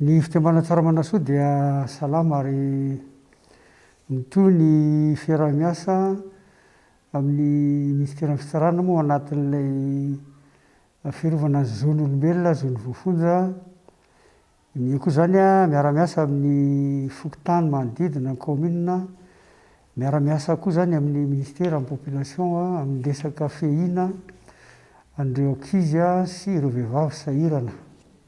Ny fiteny Manatsara Manasoa dia salama ary mitohy ny fiaraha-miasa amin'ny Minisiteran'ny Fitsarana moa ao anatin'ilay fiarovana ny zon'olombelona, zon'ny voafonja. Ny koa izany miara-miasa amin'ny fokontany manodidina ny kaominina, miara-miasa koa izany amin'ny Minisitera, amin'ny Population, amin'ny resaka fiahiana an'ireo ankizy sy ireo vehivavy sahirana.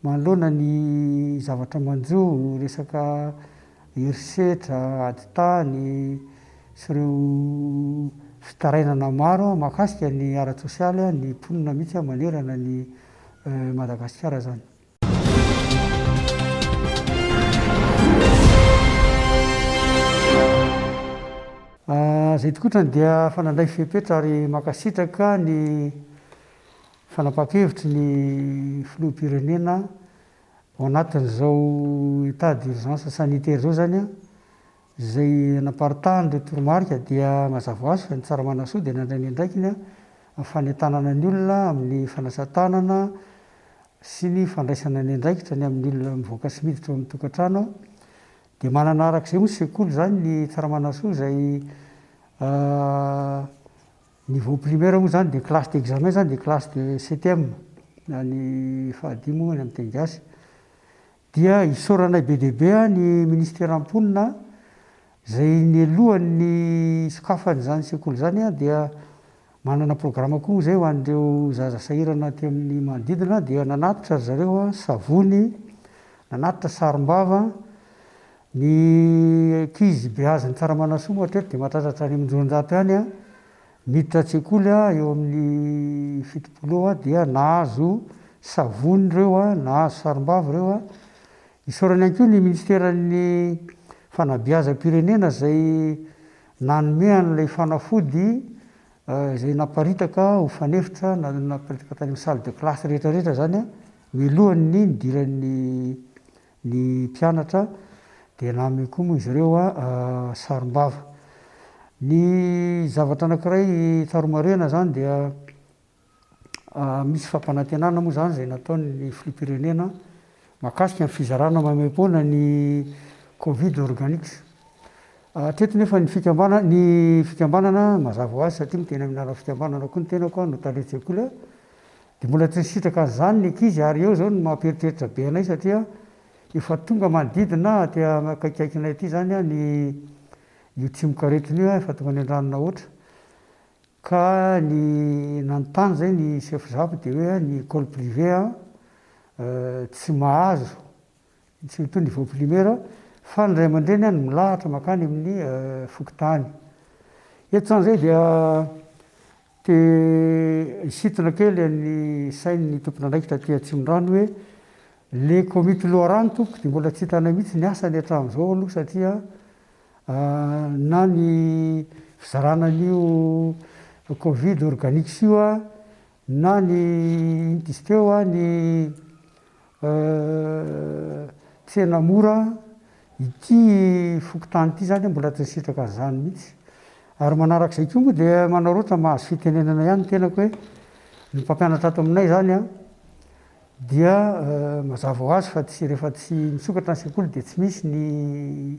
Manoloana ny zavatra manjo, resaka herisetra, ady tany sy ireo fitarainana maro mahakasika ny ara-tsosialy ny mponina mihitsy manerana an'i Madagasikara izany. Izay tokotrany dia efa nandray fepetra ary mankasitraka ny. Fanapahan-kevitry ny Filoham-pirenena ao anatin'izao état d'urgence sanitaire izao izany, izay naparitahan'ireo toromarika dia mazava ho azy fa ny Tsaramanasoo dia nandray ny andraikiny amin'ny fanentanana ny olona amin'ny fanasa-tanana sy ny fandraisana ny andraikitra ny amin'ny olona mivoaka sy miditra ao amin'ny tokantrano dia manana arak'izay moa ny sekoly izany ny Tsaramanasoo izay Niveau primaire moa izany dia classe d'examen izany dia classe de CTM na ny fahadimy moa any amin'ny teny gasy dia isaoranay be dia be ny ministera mponina izay nialohan'ny hisokafan'izany sekoly izany dia manana programa koa moa izay ho an'ireo zaza sahirana aty amin'ny manodidina dia nanatitra ry zareo savony, nanatitra sarom-bava, Ny ankizy beazin'ny Tsaramanasoma hatreto dia mahatratra hatrany amin'ny roanjato ihany an! Miditra an-tsekoly an, eo amin'ny fitopolo eo an, dia nahazo savony ireo an, nahazo sarimbavy ireo an. Isaorana ihany koa ny Minisiteran'ny Fanabeazam-pirenena izay nanome an'ilay fanafody izay naparitaka ho fanefitra na naparitaka tany amin'ny salle de classe rehetra rehetra izany an, mialohan'ny nidiran'ny Ny mpianatra dia nanome koa moa izy ireo sarimbava. Ny zavatra anankiray tsara homarihina izany dia misy fampanantenana moa izany izay nataon'ny filoham-pirenena mahakasika ny fizarana maimaim-poana ny covid organics. Hatreto nefa ny fikambanana ny fikambanana mazava ho azy satria miteny amin'ny alalan'ny fikambanana koa ny tenako no talen-tsekoly Dia mbola tsy nisitraka an'izany ny ankizy ary eo izao no mampieritreritra be anay satria efa tonga manodidina aty akaikikaikinay aty izany ny io tsimok'aretina io efa tonga nendranina hoatra ka ny nanontany izay ny chef zap dia hoe ny ecole privée tsy mahazo Tsy mitondra vao primaire aho fa ny ray aman-dreny any milahatra makany amin'ny fokontany. Eto zany zay dia te hisintona kely an'ny sain'ny tompon'andraikitra aty Atsimondrano hoe le komity loharano tompoko dia mbola tsy hitanay mihitsy ny asany hatramin'izao aloha satria na ny fizarana an'io covid organics io Na ny diskeo a, ny tsena mora a, ity fokontany ity izany mbola tsy nisitraka an'izany mihitsy. Ary manaraka izay koa moa dia manao roa tsa mahazo fitenenana ihany ny tenako hoe ny mpampianatra ato aminay izany a dia mazava ho azy fa tsy rehefa tsy misokatra ny sekoly dia tsy misy ny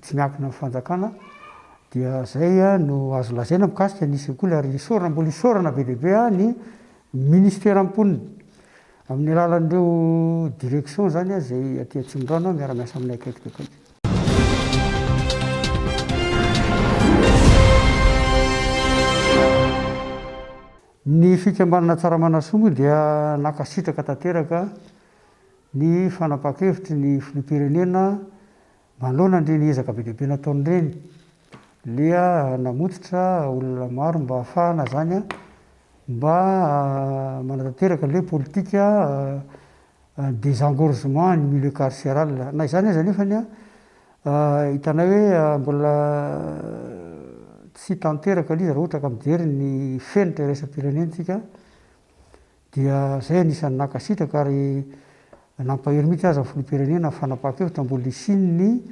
tsy miankina amin'ny fanjakana dia zay no azo lazaina mikasika ny sekoly ary isaorana mbola isaorana be dia be ny ministera mponina amin'ny alalan'ireo direction zany izay aty Atsimondrano miara miasa aminay akaiky dia akaiky. Ny fikambanana Tsaramanasoa moa dia nankasitraka tanteraka ny fanapahan-kevitry ny filoham-pirenena Manoloana ireny ezaka be dia be nataony ireny, dia namototra olona maro mba hahafahana izany mba manatanteraka ilay politika desengorgement ny milieu carceral. Na izany aza anefa, hitanay hoe mbola tsy tanteraka ilay izy raha ohatra ka mijery ny fenitra iraisam-pirenentsika. Dia izay anisan'ny nankasitraka ary nampahery mihitsy aza ny Filoham-pirenena ny fanapahan-kevitra mbola hisian'ny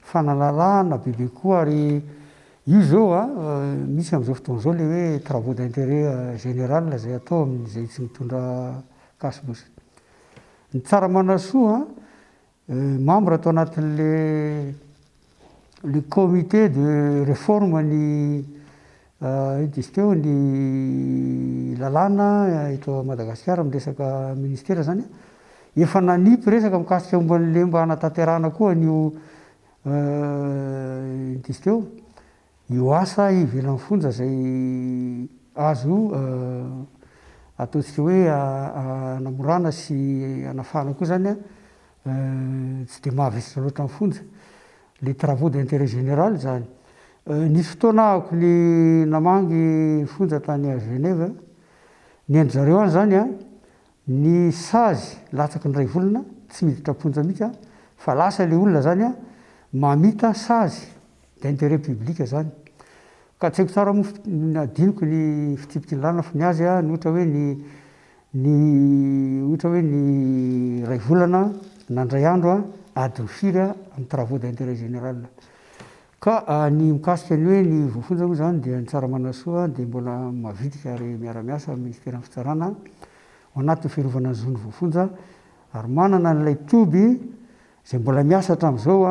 fanalalahana bebe koa ary io izao misy amin'izao fotoana izao ilay hoe travaux d'intérêt général izay atao amin'izay tsy mitondra casibe. Ny tsara manasoa Membre tao anatin'le le comité de réforme ny ino diso teo ny lalàna eto Madagasikara amin'ny resaka ministera zany a. Efa nanipy resaka mikasika momba an'le mba hanatanterahana koa an'io ino diso teo. Io asa ivelan'ny fonja izay azo io ataontsika hoe hanamorana sy hanafahana koa izany tsy dia mahavesatra loatra ny fonja. Ilay travaux d'intérêt général izany. Nisy fotoana aho ko ny namangy fonja tany à Genève, ny an-dry zareo any izany Ny sazy latsaky ny raivolana tsy miditra am-ponja mihitsy an, fa lasa ilay olona zany an, mamita sazy d'intérêt public zany. Ka tsy haiko tsara moa fa adinoko ny fitsipiky ny lalana fa ny azy an, ny ohatra hoe ny ny ohatra hoe ny raivolana na indray andro an, adiny firy an, amin'ny travaux d'intérêt général. Ka ny mikasika ny hoe ny voafonja moa izany dia ny tsara manasoa dia mbola mavitrika ary miara-miasa amin'ny Minisiteran'ny Fitsarana ao anatin'ny fiarovana ny zon'ny voafonja ary manana an'ilay toby izay mbola miasa hatramin'izao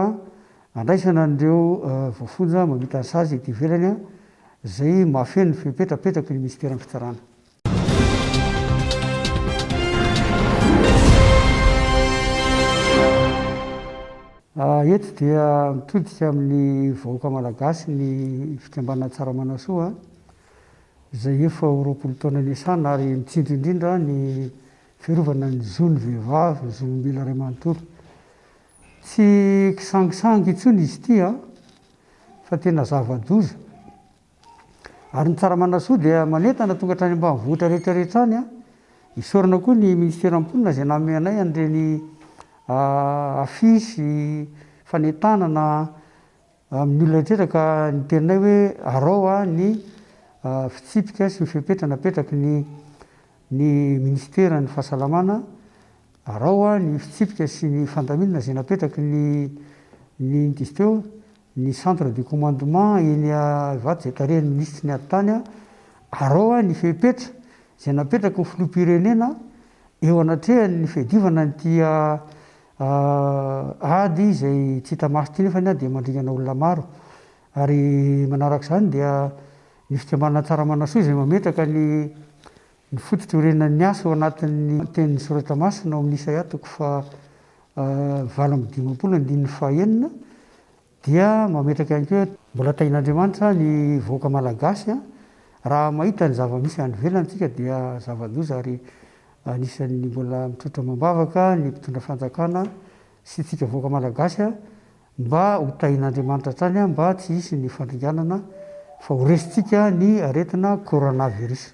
handraisana an'ireo voafonja mamita ny sazy ety ivelany izay mahafeno ny fepetrapetraky ny Minisiteran'ny Fitsarana. Eto dia mitodika amin'ny vahoaka malagasy ny fikambanana Tsaramanasoa izay efa ho roapolo taona niasana ary mitsinjo indrindra ny fiarovana ny zon'ny vehivavy, ny zon'olombelona iray manontolo. Tsy kisangisangy intsony izy ity fa tena zava-doza. Ary ny Tsaramanasoo dia manentana tonga hatrany ambanivohitra rehetra rehetra any an! Isaorana koa ny Minisiteran'ny Mponina izay nanome anay an'ireny affiche fanentanana amin'ny olona rehetra ka niteninay hoe arao ny fitsipika sy ny fepetra napetraky ny ny Minisiteran'ny Fahasalamana, arao ny fitsipika sy ny fandaminana izay napetraky ny ny inty teo ny centre de commandement eny Ivato izay tarihan'ny minisitry ny ady tany arao aho ny fepetra izay napetraky ny filoham-pirenena eo anatrehan'ny fiadivana an'ity ady izay tsy hita maso ity nefa dia mandringana olona maro ary manaraka izany dia ny fikambanana Tsaramanassoa izay mametraka ny Ny foto-diorenan'ny asa ao anatin'ny tenin'ny soratra masina ao amin'ny Isaia toko faha valo amby dimampolo andininy faha enina dia mametraka ihany koa hoe, Mbola tahin'Andriamanitra ny vahoaka malagasy raha mahita ny zava-misy any ivelany isika dia zava-doza ary anisan'ny mbola mitroatra amam-bavaka ny mpitondra fanjakana sy isika vahoaka malagasy Mba ho tahin'Andriamanitra hatrany aho mba tsy hisy ny fandringanana fa ho resintsika ny aretina coronavirus.